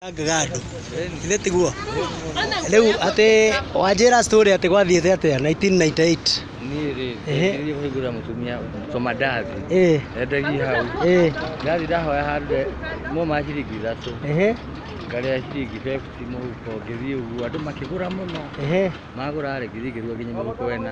Angaga andũ. Ithe tiguo. Rĩu atĩ wanjĩra story atĩ gwathiĩte atĩa 1998. niĩ rĩ Ehe. ndathiĩ kũhingũra mũtumia tũma ndathi Eh, endagia hau eh, ndathi ndahoya handũ he- no ma ciringi ithatũ ehe, ngarĩa ciringi bebti mũhuko ngĩthiĩ ũguo andũ makĩgũra mũno ehe. magũra rĩ ngĩthiĩ ngĩrua nginya mũhuko wena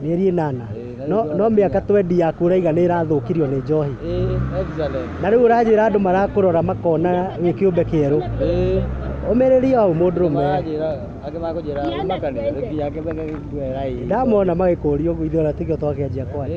Mĩeri ĩnana. No, no mĩaka twendi ya kũraiga nĩ ĩrathũkirio nĩ njohi. Na rĩu ũranjĩra andũ marakũrora makona wĩ kĩũmbe kĩerũ. Ũmĩrĩria hau mũndũrũme. Ndamona magĩkũria ũguo ithuĩ ona tigĩo twakĩanjia kwaria.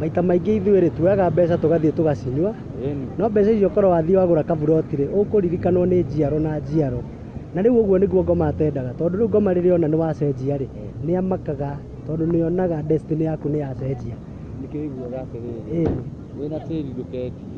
maita maingĩ ithuĩ rĩ tuoyaga mbeca tũgathiĩ tũgacinyua no mbeca icio korwo wathiĩ wagũra kaburoti rĩ ũkũririkanwo nĩ njiaro na njiaro na rĩu ũguo nĩguo ngoma atendaga tondũ rĩu ngoma rĩrĩa ona nĩ wacenjia rĩ nĩ amakaga tondũ nĩ onaga destiny yaku nĩ yacenjia Nĩkĩo ũiguaga atĩrĩrĩ, Ĩĩ. wĩna tĩri ndũkendia.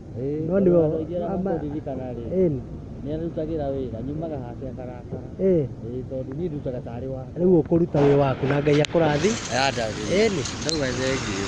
Ĩĩ, No nĩwe- ndoragia ama- makũririkana rĩ Ĩn, nĩ arutagĩra wĩra nyumaga hake akarakara ĩn. Ĩĩ, tondũ niĩ ndutaga tarĩ wa rĩu ũkũruta wĩ waku na ngai akũrathi Yada rĩ. ĩni Ndauga thengiũ.